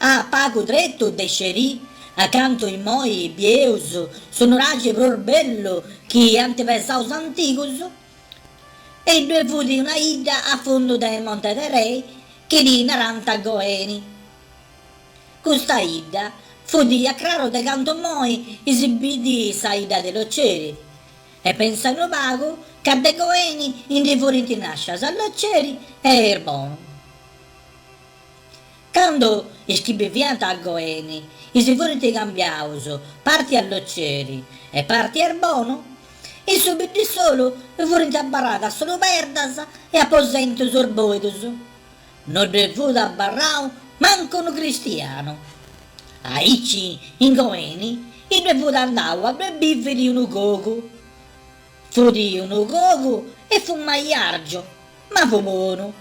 A pagu tretu de Scerì, a cantu immoi bieus su nuragi prus bellu chi ant pesau is antigus, e ddue fut una idda a fundu de Monte de Rei chi ddi narant Goeni. Custa idda fut a craru de cantu immoi is bidi sa idda de Loceri, e pensa unu pagu ca de Goeni ndi furint nascias Loceri e Irbonu. Candu is chi biviant a Goeni i si furint cambiaus parti a Loceri e parti a Erbonu, in su biddissolu furint abarradas solu perdas e aposentus isboidus. No ddue fut abarrau mancu unu cristianu. Aici, in Goeni, iddue fut andau a ddue biviri unu cogu. Fut unu cogu e fut maiargiu, ma fut bonu.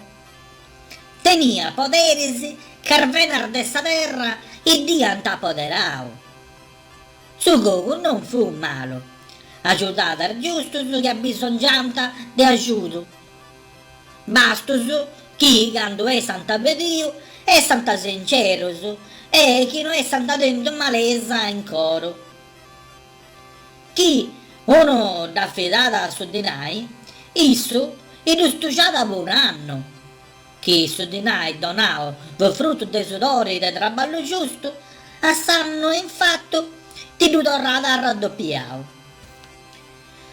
Teniat poderis ca is venas de sa terra idd'iant apoderau. Su cogu non fut malu, agiudat is giustus chi abisongiant de agiudu, bastus chi candu essant pediu essant sincerus e chi no essant tentu malesa in coru. Chi unu dd'afidat su dinai, issu iddu stujat po un'annu. Chi su dinai donau fut frutu de sudori de traballu giustu, a s'annu in fatu iddu torrat arraddopiau.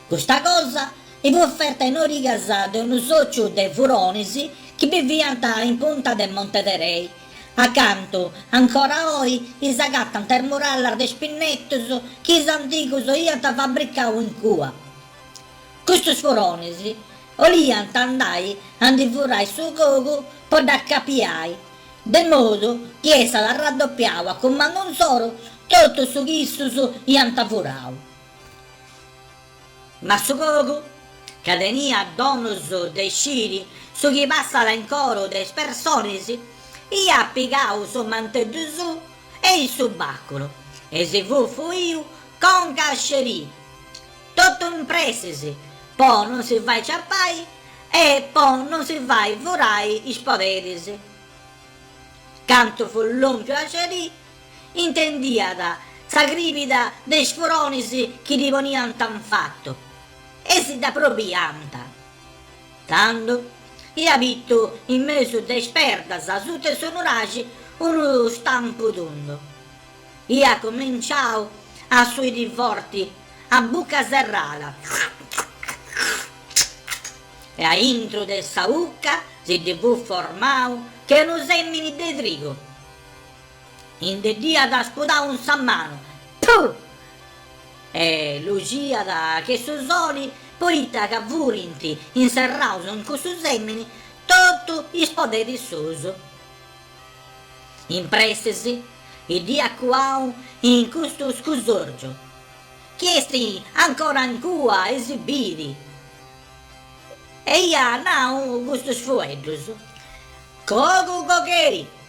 Custa cosa i fut ferta in origas de unu sòciu de furonis chi biviant in punta de Monte de Rei, A cantu, ancora oi, is agatant is murallas de is pinnetus chi is antigus iant fabricau in cua. Custus furonis 'oliant andai a ndi furai su cogu po dd'acapiai, de modu chi essat arraddopiau a cumandu insoru totu su chi issus iant furau. Ma su cogu ca teniat donus de sciri su chi passat in coru de is personis, iat pigau su manteddu suu e i su baculu e si fut fuiu conca a Scerì, totu in pressis, po non si fai ciapai e po non si fai furai is poderis. Cantu fut lompiu a Scerì, Intendiat sa cribida de is furonis chi ddi poniant in fatu e si dd'aprobiant. Tando iat bitu in mesu de is perdas suta 'e s'onuraxi unu stampu tundu. Iat cominciau a suidi forti a bucca serrada e a intru de sa ucca si ddi fut formau che unu sèmini de trigu. Inde dd'iat spudau in sa manu, puh! e luxiat che su soli, poita ca furint inserraus in cussu semini totu is poderis suus. In pressis, dd'iat cuau in custu scusorgiu, chi est ancora in cua e si bit, e iat nau custus fueddus, Cogu cogheri!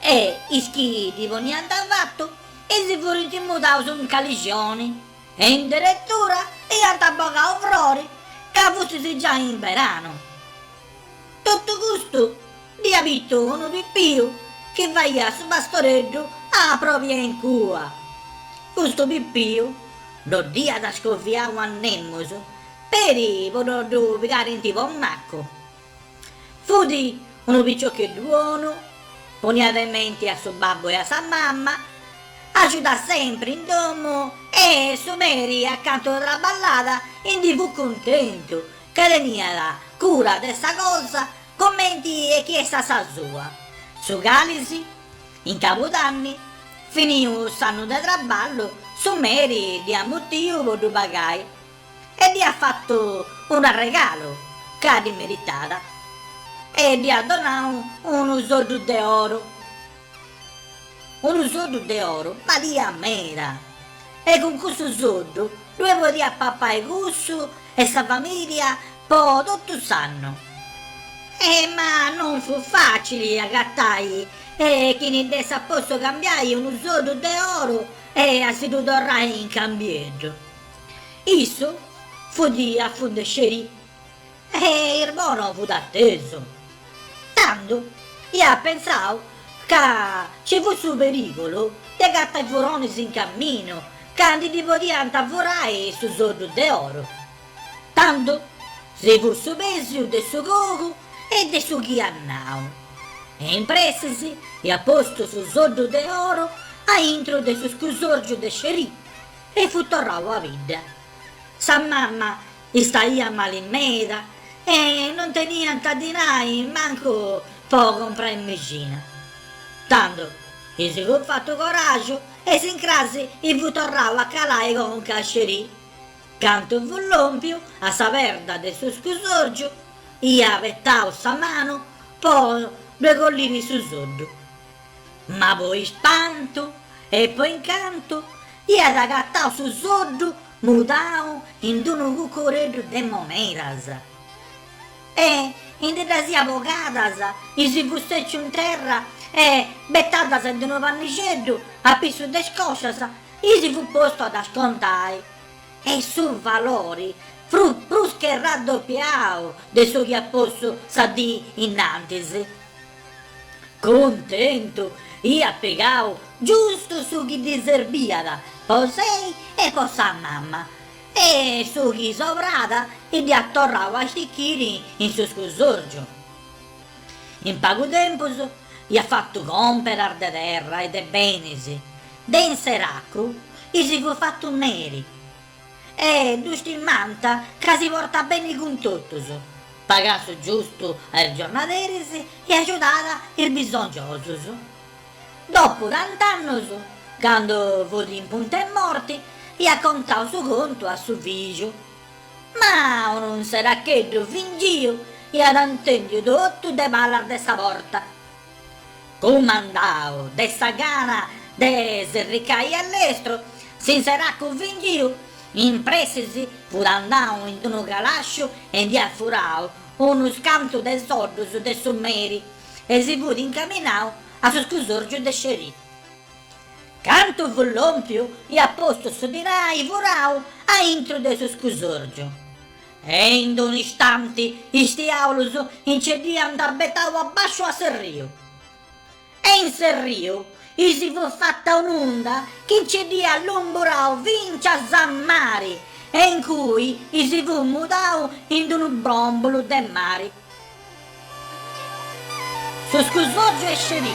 E is chi ddi poniant fatu si furint mudaus in calixoni e in deretura iant bogau frori ca fustis giai in beranu. Totu custu dd'iat bitu unu pipiu chi faiat su pastoreddu a pròpia in cua. Custu pipiu no dd'iat scoviau a nemus peri po no ddu pigarent po macu. Fut unu piciocheddu bonu, poniat in menti a su babbu e a sa mama, agiudat sempri in domu e su meri acantu traballat indi fut cuntentu ca teniat cura de sa cosa comenti e chi essat sa sua. Su calisi, in cabudanni, finiu s'annu de traballu, su meri dd'iat mutiu po ddu pagai. E dd'iat fatu un'arregalu ca ddi meritàt e dd'iat donau unu soddu de oru. Unu soddu de oru baliat meda e cun cussu soddu ddue podiat papai cussu e sa famìlia po totu s'annu. E ma non fut fàcili agatai chini dd'essat potzu cambiai unu soddu de oru e a si ddu torrai in cambieddu. Issu fut a fundu 'e Scerì e Irbono fut atesu. Tando iat pentzau ca ci fut su perìgulu de agatai furonis in caminu ca ndi ddi podiant furai su soddu de oru. Tando si fut su pèsiu de su cogu e de su chi iat nau e in pressis iat postu su soddu de oru aintru de su scusòrgiu de Scerì E fut torrau a bidda. Sa mamma istaiat mali meda e non teniant dinai mancu po comporai mixina. Tando i si fut fatu coraju e s'incrasi fut torrau a calai conca a Scerì. Candu fut lompiu a sa perda de su scusorgiu, iat betau sa manu po ddue colliri su soddu. Ma po ispantu e po incantu iat agatau su soddu mudau in d-unu cucureddu de monedas e indi ddas iat bogadas i si fut sèciu in terra e, betadas in d-unu pannixeddu a pissu de is coscias, i si fut postu a ddas contai e su valori fut prus che raddopiau de su chi iat postu sa dì innantis. Cuntentu, iat pigau giustu su chi ddi serbiat po sei e po sa mama, e su chi sobrat dd'iat torrau a stichiri in su scusòrgiu. In pagu tempus iat fatu còmperas de terra e de benis, de inseracu i si fut fatu meri, E ddu stimant ca si portat beni cun totus, pagat su giustu a is giornaderis e agiudat is bisongiosus. Dopu tant'annus, candu fut in puntu 'e morti, iat contau su contu a su fìgiu. Ma un'inseracheddu fingiu iat intèndiu totu de palas de sa porta. Cumandau de sa gana de s'irricai a lestru, s'inseracu fingiu in pressi si fut andau in d'unu calasciu e ndi iat furau unus cantu de soddus de su meri e si fut incaminau a su scusorgiu de Scerì. Candu fut lòmpiu iat postu su dinai furau a intru de su scusorgiu E in d-unu istanti is diàulus nci dd'iant betau a basciu a s'erriu. E in s'erriu i si fut fata un'unda chi nci dd'iat lumburau fincias a mari e in cui i si fut mudau in d-unu bròmbulu de mari. Su scusòrgiu 'e Scerì.